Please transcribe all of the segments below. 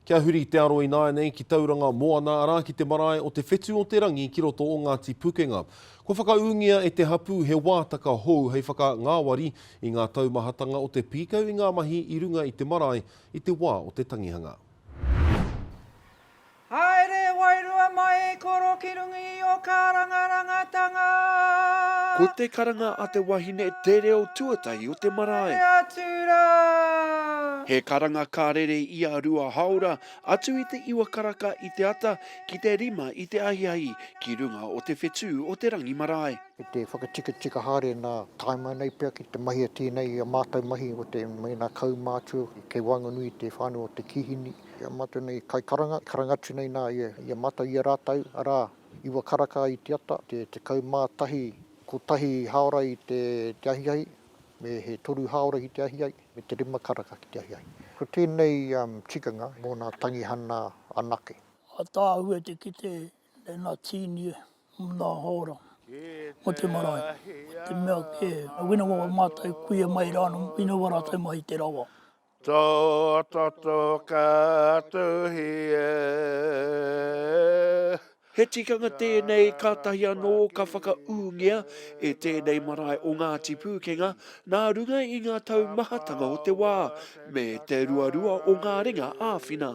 Kia huri te aro ināianei ki Tauranga Moana, arā, ki te marae o Te Whetu-o-te-rangi ki roto o Ngāti Pukenga. Kua whakaūngia e te hapū he wātaka hou hei whakangāwari i ngā taumahatanga o te pīkau i ngā mahi i runga i te marae i te wā o te tangihanga. Haere e wairua mai e koro ki runga i Rangi o Karangarangatanga. Ko te karanga a te wahine te reo tuatahi o te marae. Haere atu ra. He karanga ka rere i a Rua Haora, atu i te iwa karaka i te ata ki te rima i te ahiahi ki runga o te whetū o te rangi marae. Ki te whakatikatika haere nā tae mai nei pea ki te mahia tēnei i a mātou mahi o te mēnā kaumātua kei waenganui i te whānau o te kīhini. Ki a mātou nei kaikaranga, karanga atu nei nā ia, ia mātou, ia rātou, arā, iwa karaka i te ata, te tekau mā tahi, kotahi hāora i te ahiahi, me he toru hāora ki te ahiahi, me te rima karaka ki te ahiahi. Ko tēnei tikanga mō nā tangihana anake. Ataahue te kite nei nā Tīnie mō nā hāora mō te marae, te mea kē, wina wā mātou kuia mai rānō, wina wā rātou mai i te rawa. Tō toto ka tuhi e. He tikanga tēnei kātahi anō ka whakaūngia e tēnei marae o Ngāti Pūkenga nā runga i ngā tau mahatanga o te wā, me te ruarua o ngā ringa āwhina.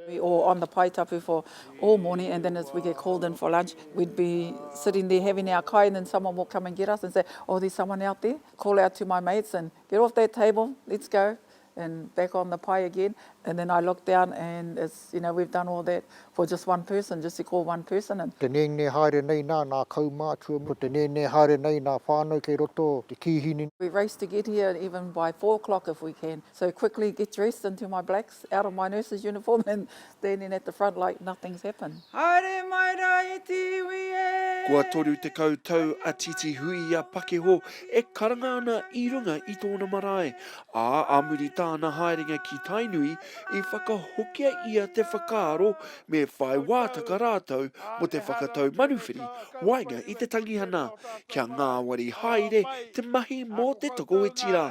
We all on the pae tapu for all morning and then as we get called in for lunch we'd be sitting there having our kai and then someone will come and get us and say oh there's someone out there, call out to my mates and Get off that table, let's go and back on the pai again and then I look down and it's, you know, we've done all that for just one person, just to call one person in. Te nēnē haere nei nā nā kaumātua, ko te nēnē haere nei nā whānau kei roto o te kīhini. We race to get here even by four o'clock if we can, so quickly get dressed into my blacks. out of my nurse's uniform and standing at the front like nothing's happened. Haere mai ra e te iwi e! Kua toru tekau tau a Titi Huia Pakeho e karanga ana i runga i tōna marae, ā, ā muri tāna haerenga ki Tainui, i whakahokia ia te whakaaro me whai wātaka rātou mō te whakatau manuwhiri waenga i te tangihana, kia ngāwari haere te mahi mō te tokoiti rā.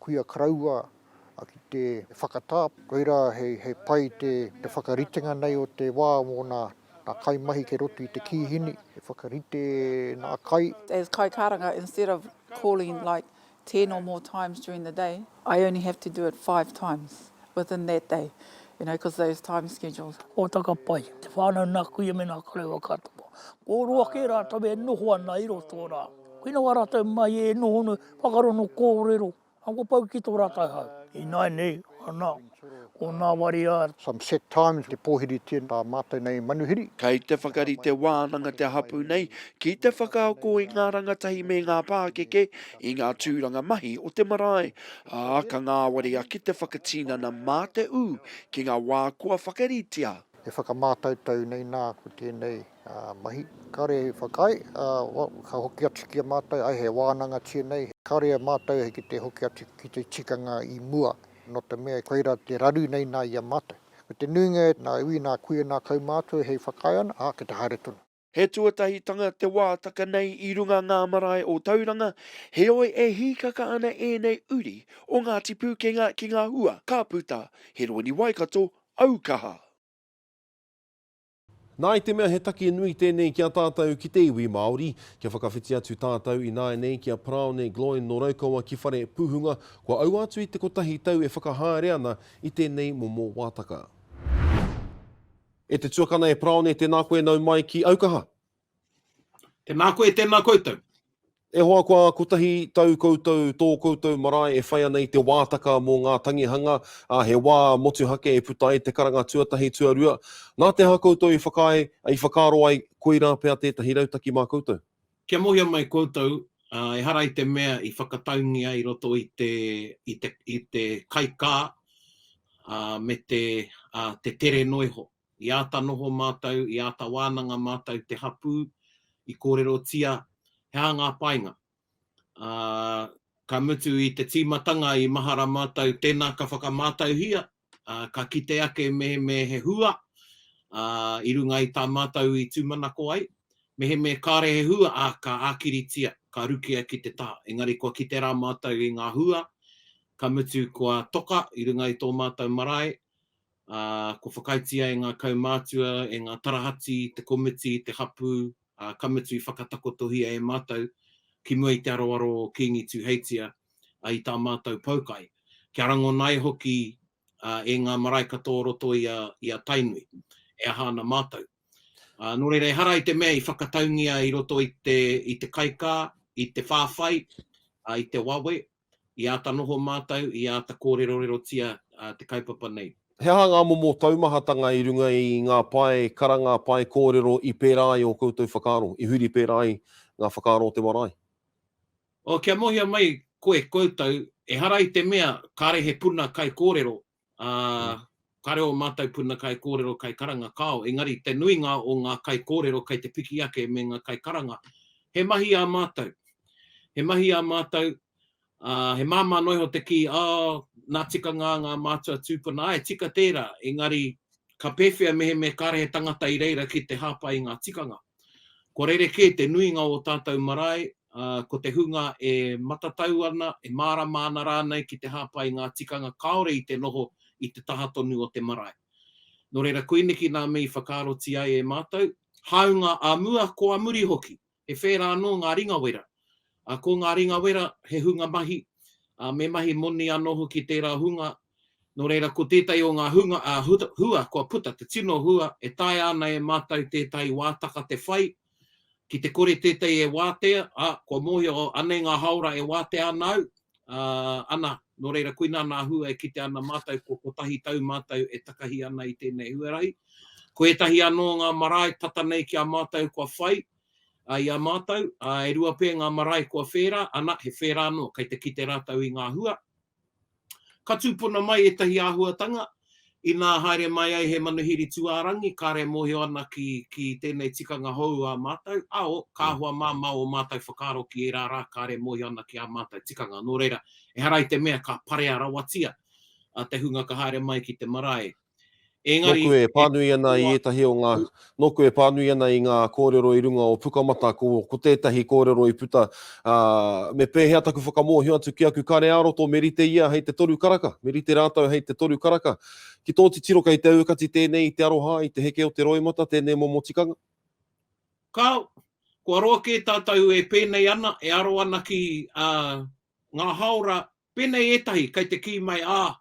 kuia karaua ki te whakatā. Koirā hei pai te whakaritenga nei o te wā mō nā kaimahi kei roto i te kīhini, e whakarite nā kai. As kaikaranga, instead of calling like ten or more times during the day, I only have to do it five times within that day, you know, because those time schedules. Hōtaka pai, te whānau nā kuia me nā karaua katoa. Kōrua kē rātou e noho ana i roto rā. Koina wā rātou mai e noho nei, Whakarongo kōrero, ako pau ki tō rātou hau. Ināinei, ana, ko nā wari a. Some set times te pōhiritia tā mātou nei manuhiri. Kei te whakarite wānanga te hapū nei ki te whakaako i ngā rangatahi me ngā pākeke i ngā tūranga mahi o te marae, ā, ka ngāwari ake te whakatinana mā te ū ki ngā wā kua whakaritea. E whakamātautau nei nā, ko tēnei. Mahi, kare i whakaae, ka hoki atu ki a mātou, ai he wānanga tēnei, kare e mātou ki te hoki atu ki te tikanga i mua, nō te mea koirā te raru nei nā i a mātou. Ko te nuinga, nā iwi, nā kuia, nā kaumātua hei whakaae ana, ā, ki te haere tonu. He tuatahitanga te wātaka nei i runga ngā marae o Tauranga, heoi e hīkaka ana ēnei uri o Ngāti Pūkenga ki ngā hua ka puta, Hironui Waikato, Aukaha. Nā, i te mea he take nui tēnei ki a tātou ki te iwi Māori, kia whakawhiti atu tātou ināianei ki a Paraone Gloyne nō Raukawa ki Whare Pūhunga, kua aua atu i te kotahi tau e whakahaere ana i tēnei momo wātaka. E te tuakana e Paraone, tēnā koe nau mai ki Aukaha. Tēnā koe, tēnā koutou. E hoa kua kotahi tau koutou, tō koutou marae e whai ana i te wātaka mō ngā tangihanga, ā, he wā motuhake e puta ai te karanga tuatahi, tuarua. Nā te aha koutou i whakaae, i whakaaro ai, koirā pea tētahi rautaki mā koutou? Kia mōhio mai koutou, ā, ehara i te mea i whakataungia i roto i te, i te, i te kaikā, ā, me te, ā, te tere noa iho. I āta noho mātou, i āta wānanga mātou te hapū, i kōrerotia he aha ngā painga. Ā, ka mutu i te tīmatanga i mahara mātou tēnā ka whakamātauhia, ā, ka kite ake mehemē he hua, ā, i runga i tā mātou i tūmanako ai. Mehemē kāore he hua, ā, ka ākiritia, ka rukia ki te taha. Engari kua kite rā mātou i ngā hua, ka mutu kua toka i runga i tō mātou marae, ā, kua whakaaetia e ngā kaumātua, e ngā tarahati, te komiti, te hapū, ā, ka mutu i whakatakotohia e mātou, ki mua i te aroaro o Kīngi Tūheitia, ā, i tā mātou poukai. Kia rangona ai hoki, ā, e ngā marae katoa o roto i a, i a Tainui, e aha ana mātou. Ā, nō reira, ehara i te mea i whakataungia i roto i te, i te kaikā, i te whāwhai, ā, i te wawe, I āta noho mātou, i āta kōrerorerotia te kaupapa nei. He aha ngā momo taumahatanga i runga i ngā pae karanga, pae kōrero i pērā ai ō koutou whakaaro, i huri pērā ai ngā whakaaro o te marae? Oh, kia mōhio mai koe, koutou, ehara i te mea kāre he puna kaikōrero ā, ka reo ō mātou puna kaikōrero, kaikaranga kāo, engari te nuinga o ngā kaikōrero kei te piki ake me ngā kaikaranga. He mahi ā mātou. He mahi ā mātou, ā, he māmā noa iho te kī, oh, nā tikanga ngā mātua tūpuna, āe, tika tērā, engari ka pēwhea mehemea kāre he tangata i reira ki te hāpai i ngā tikanga. Kua rerekē te nuinga o ō tātou marae, ā, ko te hunga e matatau ana, e mārama ana rānei ki te hāpai i ngā tikanga kāore i te noho i te taha tonu o te marae. Nō reira, koineki nā me i whakaarotia ai e mātou, hāunga ā mua, ko ā muri hoki, he whērā anō ngā ringa wera. Ā, ko ngā ringa wera, he hunga mahi, ā, me mahi moni anō hoki tērā hunga, Nō reira, ko tētahi o ngā hunga ā-hua kua puta te tino hua e taea ana e mātou tētahi wātaka te whai, ki te kore tētahi e wātea, ā, kua mōhio, oh, anei ngā hāora e wātea ana au, ā, ana, nō reira, koinā nā hua e kite ana mātou kua kotahi tau mātou e takahi ana i tēnei huarahi. Ko ētahi anō o ngā marae tata nei ki a mātou kua whai, ā, i a mātou, ā, e rua pea ngā marae kua whērā, ana, he whērā anō kei te kite rātou i ngā hua. Ka tūpuna mai ētahi āhuatanga, inā haere mai ai he manuhiri tūārangi, kāre e mōhio ana ki, ki tēnei tikanga hou ā mātou, āo, kāhua māmā ō mātou whakaaro ki ērā rā kāre e mōhio ana ki ā mātou tikanga. Nō reira, ehara i te mea ka parea rawatia te hunga ka haere mai ki te marae, Nōku e pānui ana i ētahi o ngā, nōku e pānui ana i ngā kōrero i runga o Pukamata, ko, ko tētahi kōrero i puta, ā, me pēhea taku whakamōhio atu ki aku kare ā-roto, me rite ia hei te toru karaka, me rite rātou hei te toru karaka. Ki tō titiro kei te aukati tēnei i te aroha i te heke o te roimata tēnei momo tikanga? Kāo, kua roa kē tātou e pēnei ana, e aro ana ki, ā, ngā hāora Pēnei ētahi, kei te kī mai, ā,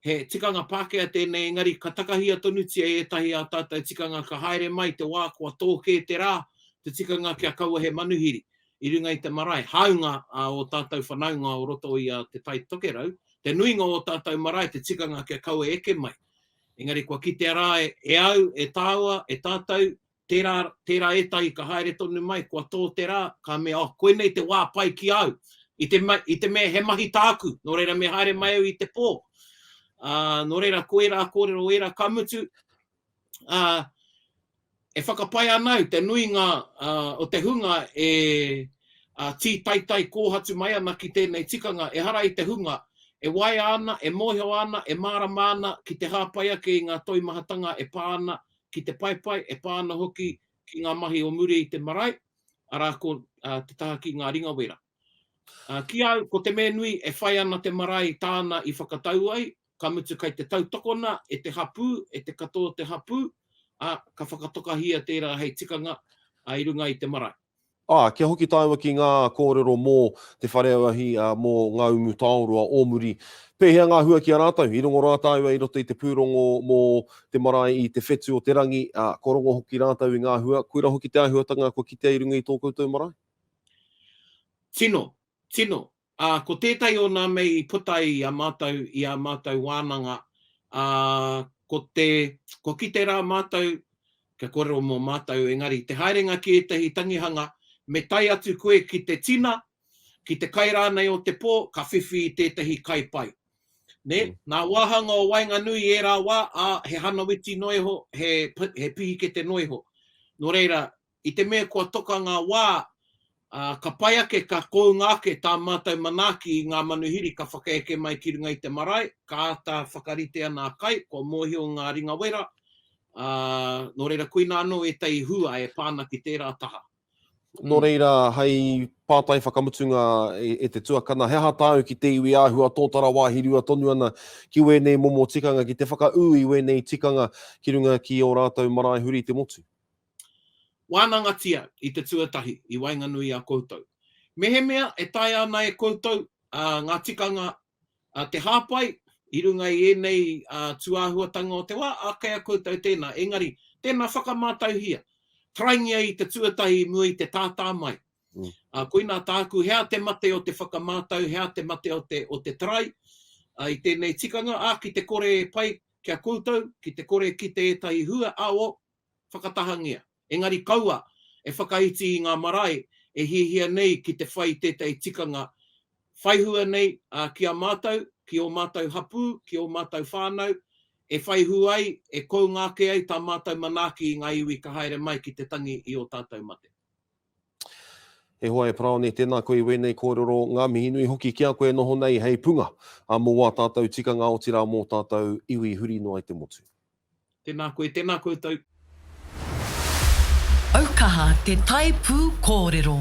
he tikanga Pākehā tēnei engari ka takahia tonutia ētahi ā tātou tikanga ka haere mai te wā kua tō kē te rā, te tikanga kia kaua he manuhiri i runga i te marae. Hāunga ā ō tātou whanaunga o roto i a Te Tai Tokerau, te nuinga o ō tātou marae te tikanga kia kaua eke mai. Engari kua kitea rā e au, e tāua, e tātou, Tērā, tērā ētahi ka haere tonu mai, kua tō te rā, ka mea, oh, koinei te wā pai ki a au. I te, i te mea he mahi tāku, nō reira me haere mai au i te pō. Ā, nō reira, ko ērā kōrero ērā, ka mutu, ā, e whakapae ana au te nuinga ā, o te hunga e ā, tītaitai kōhatu mai ana ki tēnei tikanga, ehara i te hunga e waea ana, e mōhio ana, e mārama ana ki te hāpai ake i ngā toimahatanga e pā ana ki te paepae, e pā ana hoki ki ngā mahi o muri i te marae, arā, ko te taha ki ngā ringa wera. Ki a au, ko te mea nui, e whai ana te marae tāna i whakatau ai, ka mutu kei te tautokona e te hapū, e te katoa o te hapū, ā, ka whakatokahia tērā hei tikanga i runga i te marae. Aa, kia hoki taua ki ngaa koorero moo te whare auahi moo Ngaumutaoroa o muri. Peehea ngaa hua ki a raatou? I rongo raa taaua i roto i te puurongo moo te marae i te whetu o te rangi, aa, kua rongo hoki raatou i ngaa hua, koira hoki te aahuatanga kua kitea i runga i too koutou marae? Tino, tino, Ā, ko tētahi o nā mei i puta i a mātou i ā mātou wānanga, ā, ko te, kua kite rā mātou, kia kōrero mō mātou, engari, te haerenga ki ētahi tangihanga, me tae atu koe ki te tina, ki te kai rānei o te pō, ka whiwhi i tētahi kai pai. Nē, nā wāhanga o waenganui i ērā wā, ā, he hanawiti noa iho, he, he pihikete noa iho. Nō reira, I te mea kua toka ngā wā, ā, ka pai ake, ka kounga ake tā mātou manaaki i ngā manuhiri ka whakaeke mai ki runga i te marae, ka āta whakarite ana a Kai, kua mōhio ngā ringa wera, ā, nō reira koinā anō ētahi hua e pā ana ki tērā taha. Nō reira, hei pātai whakamutunga e te tuakana, he aha tāu ki te iwi āhua tōtara wāhi rua tonu ana ki wēnei momo tikanga, ki te whakaū i wēnei tikanga ki runga ki ō rātou marae huri i te motu? Wānangatia i te tuatahi i waenganui i a koutou. Mehemea e taea ana e koutou ngā tikanga te hāpai i runga i ēnei tūāhuatanga o te wā, ā, kei a koutou tēnā, engari tēnā whakamātauhia, karaingia i te tuatahi i mua i te tātā mai. Ā, koinā tāku, he aha te mate o te whakamātau, he aha te mate o te, o te tarai i tēnei tikanga, ā, ki te kore e pai ki a koutou, ki te kore e kite ētahi hua, ā, o, whakatahangia. Engari kaua e whakaiti i ngā marae e hiahia nei ki te whai tētahi tikanga whai hua nei ki a mātou, ki ō mātou hapū, ki ō mātou whānau, e whai hua ai, e kounga ake ai tā mātou manaaki i ngā iwi ka haere mai ki te tangi i ō tātou mate. E hoa e Paraone, tēnā koe i wēnei kōrero, ngā mihi nui hoki ki a koe e noho nei hei punga a mō wā tātou tikanga otirā mō tātou iwi huri noa i te motu. Tēnā koe, tēnā koutou. Aukaha te tae pū kōrero.